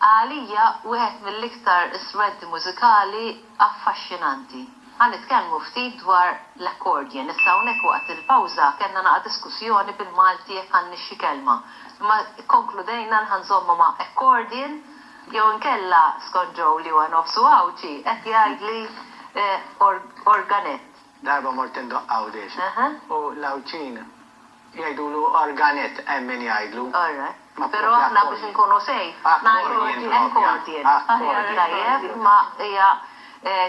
Għalija wieħed mill-iktar strumenti mużikali affaxxinanti. Ħa nitkellmu ftit dwar l-accordion. Issa hawnhekk waqt il-pawża kellna naqa' diskussjoni bil-Malti jekk għandniex xi kelma. Imma kkonkludejna li ħa nżommu ma' accordion jew inkella skont Joe li huwa nofsu Għawdxi qed jgħidli organett. Darba mort indoqq Għawdiex u l-Għawdxin. Jgħidulu Arganet hemm min jgħidlu. Alright. Però aħna biex inkunu safe ngħidu accordion. Aħjar tajjeb ma hija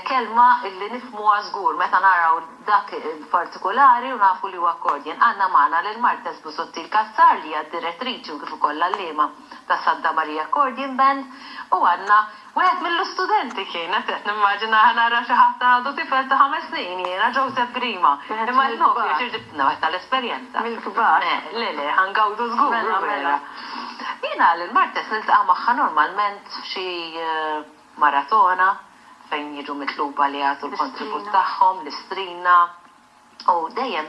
kelma li nifhmuha żgur meta naraw dak partikulari u nafu li huwa accordion. Għandna magħna lil Martes Busuttil Cassar li hija d-direttriċi u kif ukoll l-għalliema tas-Santa Maria Accordion Band u għandna Wieħed mill-istudenti kien, qed qed nimmaġinaha nara xi ħadd għadu tifel ta' ħames snin jiena, Joseph Grima. Imma l-Nokia xi ġibtilna wieħed tal-esperjenza. Mill-kbar. Le, le, ħa ngawdu żgur, u vera. Mela, mela. Jiena lil Martes niltaqa' magħha normalment f'xi maratona fejn jiġu mitluba li jagħtu l-kontribut tagħhom, l-istrina. U dejjem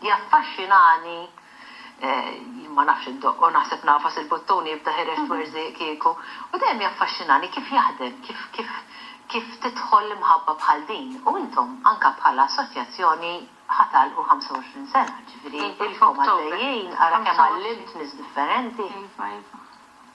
jaffaxxinani, jien ma nafx indoqqu, naħseb nagħfas il-buttun jibda ħirex twerżieq kieku, u dejjem jaffaxxinani kif jaħdem, kif kif kif tidħol imħabba bħal din. U intom anke bħala assoċjazzjoni ħa tagħlqu 25 sena, ġifieri ilkom għaddejjin, ara kemm għallimt nies differenti. Iva, iva.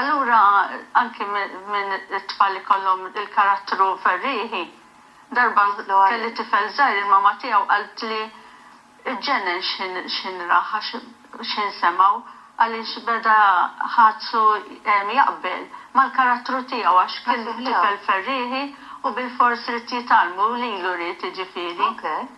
Allura anki minn it-tfal li kollhom il-karattru ferrieħi, darba kelli tifel żgħir il-mama tiegħu qaltli ġġennen x'ħin rah għax x'ħin semgħu għaliex beda ħadsu jaqbel mal-karattru tiegħu għax kien tifel ferrieħi u bilfors ried jitgħallmu lilu ried jiġifieri.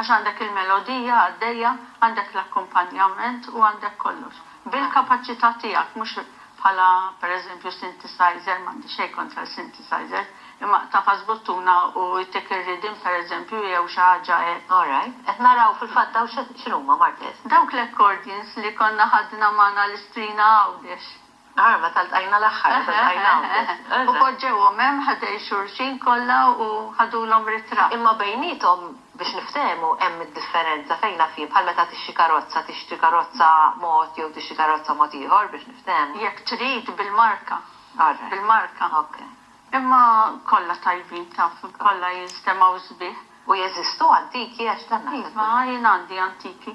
Għax għandek il-melodija għaddejja, għandek l-akkumpanjament u għandek kollox. Bil-kapaċità tiegħek, mhux bħala pereżempju synthesizer, m'għandi xejn kontra l-synthesizers, imma tagħfas buttuna u jtik ir-riddim pereżempju jew xi ħaġa hekk. All right. Qed naraw fil-fatt dawn x'inhuma, Marques? Dawk l-accordions li konna ħadna magħna l-Istrina Għawdex. Ara meta ltqajna l-aħħar, meta ltqajna hawn biss. U poġġewhom hemm ħdej xulxin kollha u ħadulhom ritratt. Imma bejniethom, biex niftehmu, hemm id-differenza, fejn naf jien, bħal meta tixtri karozza, tixtri karozza mod jew tixtri karozza mod ieħor, biex niftehmu. Jekk trid, bil-marka. Alright. Bil-marka. Ok. Imma kollha tajbin, taf, kollha jinstemgħu sbieħ. U jeżistu antiki għax dan naħseb. Iva, jien għandi antiki.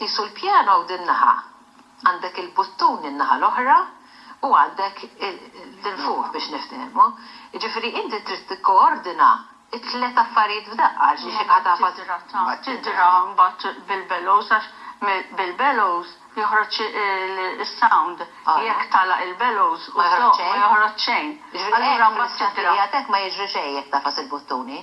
Qisu l-pjano din naħa, għandek il-buttun in-naħa l-oħra u għandek l-infuħ biex niftehmu. Jiġifieri inti trid tikkoordina t-tliet affarijiet f'daqqa għax xi ħadd għad ma Mbagħad tidra mbagħad bil-bellows għax bil-bellows joħroġ is-sound. Jekk tagħlaq il-bellows u żżoqq ma joħroġ xejn. Allura mbagħad tidra. Jiġifieri hekk fl-istqarrija tiegħek ma jiġri xejn jekk tagħfas il-buttuni?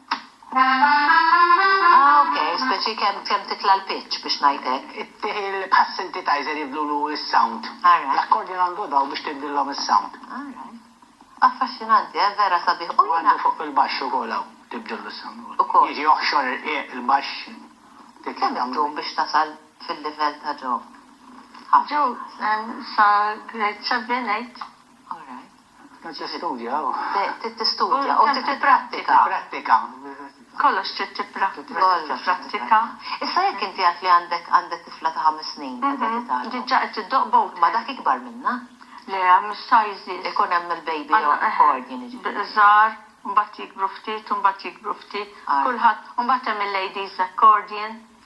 Ah ok, speċi kemm kemm titla' l-pitch biex ngħid hekk. Bħas-synthetizer jibdlulu s-sound. L-accordion għandu dawl biex tibdillhom is-sound. Affaxxinanti, eh? Vera sabiħ. U għandu fuq il-baxx ukoll hawn tibdillu s-sound ukoll. Jiġi joħxor ir-rqieq il-baxx. Kemm iddum biex tasal fil-livell ta' Joe? Joe sa grade seven, eight. Trid tistudja u. Trid tistudja u trid tipprattika. Tipprattika. Kollox trid tipprattika. Issa jekk inti għidt li għandek għandek tifla ta' ħames snin qiegħda titgħallem. Diġà qed iddoqq bowdher. Ma dak ikbar minnha? Le, hemm is-sizes. Ikun hemm il-baby accordion jiġifieri. Żgħar, mbagħad jikbru ftit u mbagħad jikbru ftit. Kulħadd, u mbagħad hemm il-ladies accordion.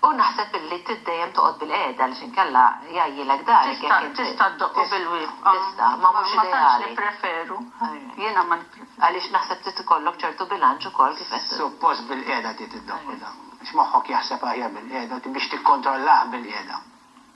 U naħseb illi trid dejjem toqgħod bilqiegħda għaliex inkella jgħajjilek darek jekk int. Tista' ddoqqu bil-wieqfa. Tista', ma mhux ideali. Ma tantx nippreferu. Jiena ma nippreferu. Għaliex naħseb trid ikollok ċertu bilanċ ukoll kif qed. Suppost bilqiegħda trid iddoqqu dan. Għax moħħok jaħseb aħjar bilqiegħda u biex tikkontrollah bilqiegħda.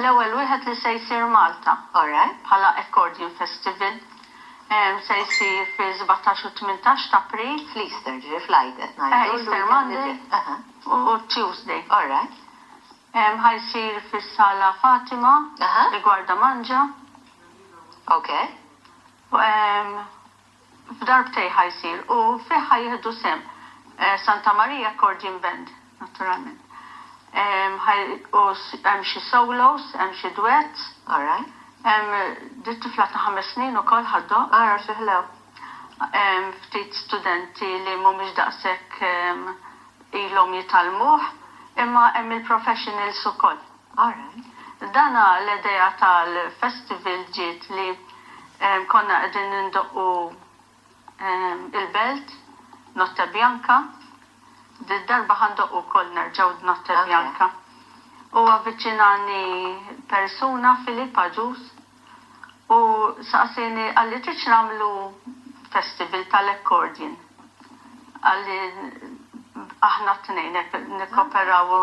L-ewwel wieħed li se jsir Malta. Alright. Bħala Accordion Festival. Se jsir fis-sbatax u t-tmintax t'April. Fl-Easter, ġifieri fl-Għid qed ngħidu. Eħe, Easter Monday u Tuesday. Alright. Ħa jsir fis-Sala Fatima, Rigwarda Mangia. Ok. F'darbtejn ħa jsir u fih ħa jieħdu sehem Santa Maria Accordion Band, naturalment. Ħa u hemm xi solos, hemm xi duets. All right. Hemm di tifla ta' ħames snin ukoll ħa ddoqq. Ara xi ħlew. Hemm ftit studenti li mhumiex daqshekk ilhom jitgħallmuh, imma hemm il-professionals ukoll. Aaron, Dana l-idea tal-festival ġiet li konna qegħdin nindoqqu il-belt, Notte Bianca, did-darba ħa ndoqqu wkoll nerġgħu d-Notte Bianca. U avviċinani persuna, Philip għaġuż, u saqsieni, qalli tridx nagħmlu festival tal-accordion? Qalli aħna t-tnejn hekk nikkoperaw u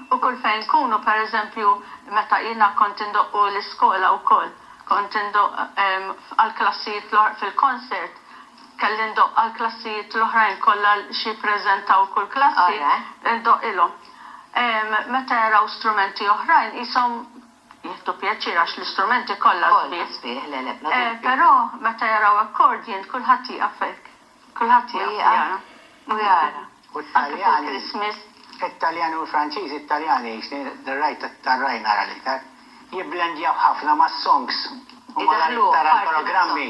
U kull fejn tkunu, per eżempju, meta jiena kont indoqq u l-iskola wkoll, kont indoqq għall-klassijiet l-oħra, fil-concert, kelli ndoqq għall-klassijiet l-oħrajn kollha xi jippreżentaw kull klassi, indoqqilhom. Meta jaraw strumenti oħrajn qishom Jieħdu pjaċir għax l-istrumenti kollha sbieħ. Però meta jaraw akkordjin kulħadd jieqaf hekk. Kulħadd jieqaf u jara. U t-Taljani, it-Taljani u l-Franċiżi, it-Taljani rajt it-tarrajn ara l-iktar, jibblendjaw ħafna mas-songs u malajr tara l-programmi.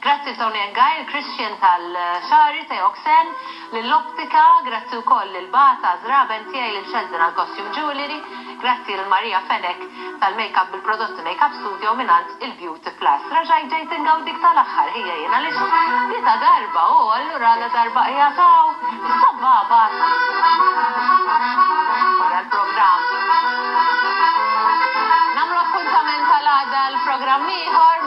Grazzi lil Tony Engai, lil Christian tal-xagħri, Theo Xen, lil Optika, grazzi wkoll lil Bata, żraben tiegħi, lil Sheldon għall-costume jewellery, grazzi lil Maria Fenech tal-makeup bil-prodotti Makeup Studio mingħand il-Beauty Plus. Raġajt ġejt ingawdik tal-aħħar, ħija jien għaliex tlieta darba u allura ladarba qiegħed hawn, is-sabbabat, wara l-programm. Nagħmlu appuntament għal għada għal programm ieħor.